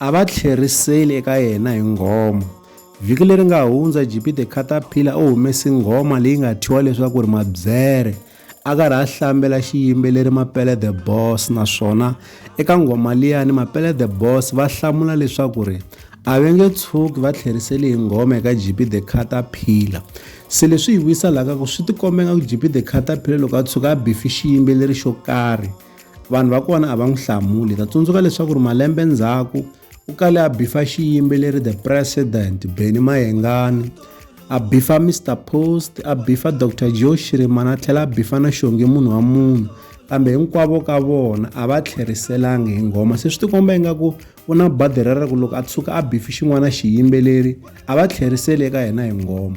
A va tlheriseli eka yena hi nghoma. Vhiki leri nga hundza, JP The Caterpillar u humese nghoma leyi nga thyiwa leswaku ri Mabyere. A karhi a hlambela xiyimbeleri Mapele The Boss naswona eka nghoma liyani Mapele The Boss va hlamula leswaku ri a ve nge tshuki va tlheriseli hi nghoma eka JP The Caterpillar. Se leswi hi vuyisa laha ka ku swi tikombenga ku JP The Caterpillar loko a tshuka a bifi xiyimbeleri xo karhi, Vanhu va kona a va n'wi hlamuli. Ta tsundzuka leswaku ri malembe ndzhaku u kale a bifa xiyimbeleri The President, Benny Mayengani, a bifa Mr Post, a bifa Dr Joe Shirimana a tlhela a bifa na Xongi munhu wa munhu. Kambe hinkwavo ka vona a va tlheriselangi hi nghoma. Se swi tikomba ingaku u na badhi rero ku loko a tshuka a bifi xin'wana xiyimbeleri a va tlheriseli eka yena hi nghoma.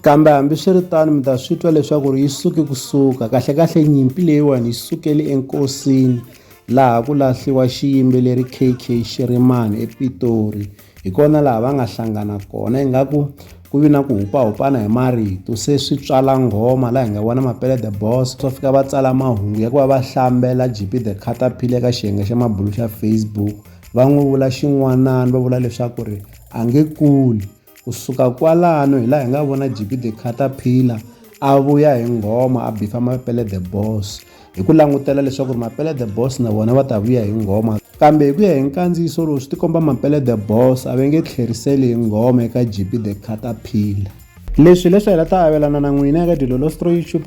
Kambe hambi swi ri tano mi ta swi twa leswaku ri yi suke ku suka kahlekahle nyimpi leyiwani yi sukele enkosini laha ku lahliwa xiyimbeleri KK Xirimani ePitori hi kona laha va nga hlangana kona ingaku ku vi na ku hupahupana hi marito se swi tswala nghoma laha hi nga vona mapele the boss swa fika va tsala mahungu ya ku va va hlambela GP the Caterpillar eka xiyenge xa mabulu xa Facebook va n'wi vula xin'wanani va vula leswaku ri a nge kuli Ku suka kwalano hi laha hi nga vona JP the Caterpillar a vuya hi nghoma a bifa Mapele the Boss hi ku langutela leswaku ri Mapele the Boss na vona va ta vuya hi nghoma kambe hi ku ya hi nkandziyiso lowu swi tikomba Mapele the Boss a va nge tlheriseli hi nghoma eka JP the Caterpillar. Leswi hileswi hi la ta avelana na n'wina eka Dilolo Stroy YouTube